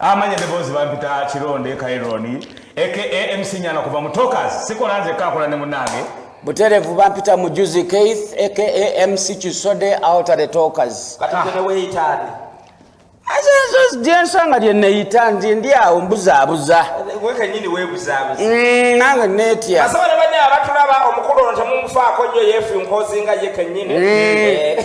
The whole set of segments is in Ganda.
amanya deboozi bampita kironde kaironi aka mc nyana kuva mutokas sikola nze kakola ne munange buterevu bampita mujuzi keith aka mc kisode outer the tokas ensanga lyeneyita nti ndi awo mbuzaabuza mm, nange netya abatulaba omukulu ono temufaako nyo yefunkozinga ye kenyini mm. eh.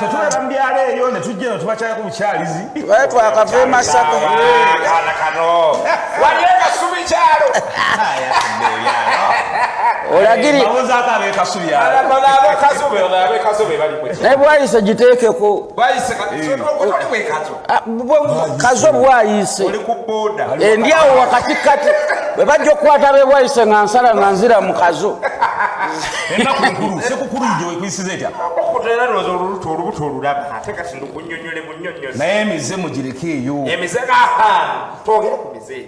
tetulaba mubyalo eyo netujja no tubakyalako bukyalizi baye twakava emasaka kana kano waliyo kasubi kyalo olagirinaye bwayise giteekeko Ah, kazi obwayise endi awo wakati kati bwe bajja okukwata bebwayise nga nsala nga nzira mu kazo naye emize mugireke eyo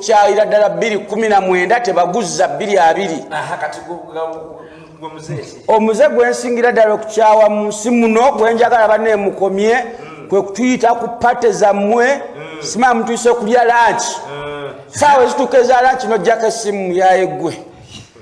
kyayira ddala bbiri kumi na mwenda tebaguzza bbiri abiri omuze gwensingira ddala okukyawa mu nsi muno gwenjagala baneemukomye mm. kwe kutuyita ku pate zammwe mm. simaa mutuyise okulya lanki mm. saawa ezituuka eza lanki nojjako essimu yaye gwe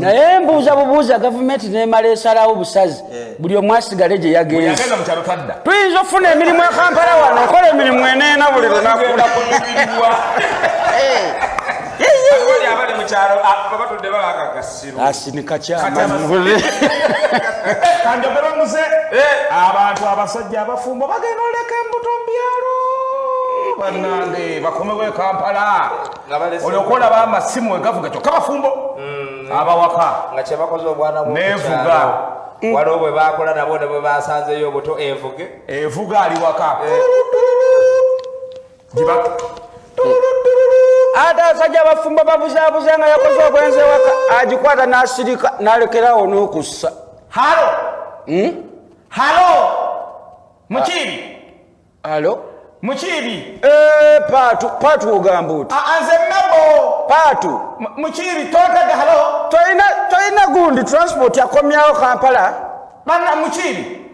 naye mbuuza bubuuza gavumenti nemala esalawo busazi eh. buli omu asigale gye yagenze tuyinza okufuna emirimu ekampala wano okola emirimu eneena buli lunaku eh. asinika kyamanyi kanjogera omuze eh. abantu abasajja abafumbo bagenda oleka embuto mubyalo banange bakomewo ekampala olyoka olaba amasimu wegavuga kyokka bafumbo mm. abawaka nevuga mm. waliwo bwe bakola nabo ne bwe basanzeyo obuto evuge evuga ali waka eh. ate asajja abafumbo babuzabuza nga yakoze obwenzi ewaka agikwata n'asirika n'alekerawo n'okussa halo hmm? halo mukiibi halo mukiibi eh, paatu paatu ogamba oti anze mebo paatu mukiibi totega halo tolina gundi transport akomyawo kampala banna mukiibi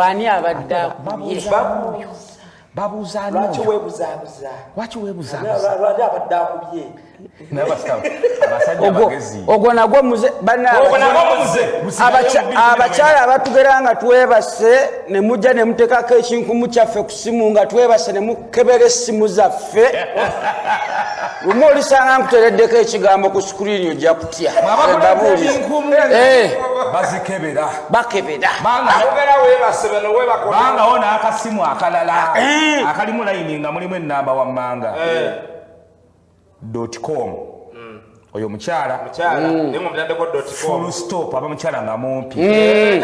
ani abadde ogwo nagwo muze abakyala abatugera nga twebase ne mujja ne muteekako ekinkumu kyaffe ku simu nga twebase ne mukebera essimu zaffe lumu olisanga nkutereddeko ekigambo ku sikuriini ojja kutya bazikebera bakebera bangawo n'akasimu akalala eh. akalimu layini nga mulimu ennamba wammanga eh. dot com mm. oyo mukyala mm. stop aba mukyala nga mumpi mm.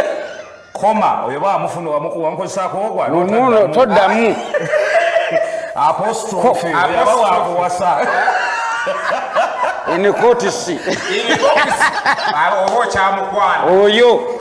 koma oyo bamufuna wamukozesako ogwanono toddamu apostrophe aba wakuwasa enikotisi oba okyamukwana oyo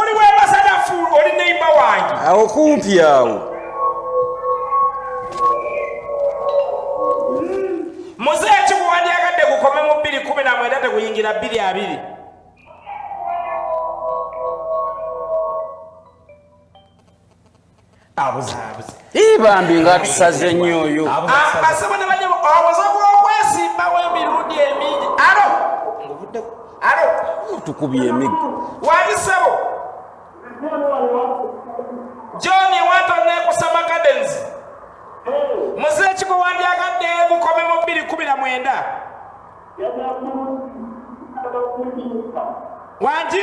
oli webasanafu oli neimba wange awo kumpi awo muze ekikuwandyagadde gukome mu bbiri kumi na mwenda teguyingira bbiri abiri bambi nga tusaze nnyo oyo asaba ne banyabo obuze bw'okwesimbawo emirundi emingi alo alo tukubye emiggo wayisebo john wato nekusama gardens muze ekiko wandyagadde mukome mu bbiri kumi na mwenda wangi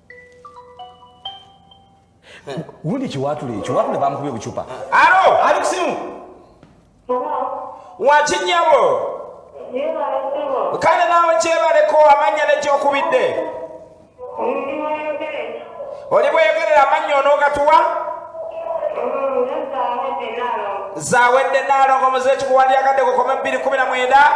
Wundi kiwatule ekyo wabula bamukubye obucupa. Alo, ali kusimu. Waki nyabo. Kale naawe kyebaleko amanya nekyokubidde. Oli bweyogerera amanya onogatuwa? Zawedde naalongo muze ekikuwandiyagadde kukome bbiri kumi na mwenda.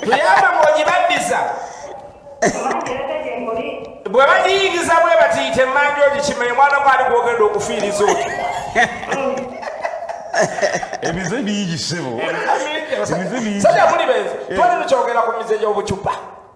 tuyamba ng'ogibaddiza bwe bagiyingiza bwe batiyita emmanja ogikimanye mwana gwali gwogenda okufiiriza oti ebize bingi ssebo ebize bingi sajja muli benzi twali tukyogera ku mize gy'obucupa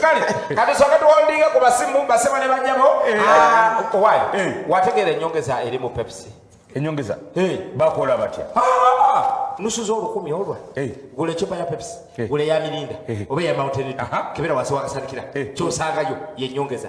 kale kati soka tuwandinga ku basimu basema ne banyabo eh. ah, owaye eh. wategeera enyongeza eri mu pepsi enyongeza eh. bakola batya ah, ah, nusu zolukumi olwa gula ecupa ya pepsi gula eya mirinda oba eya mountain kebera wansi wakasandikira kyosangayo yenyongeza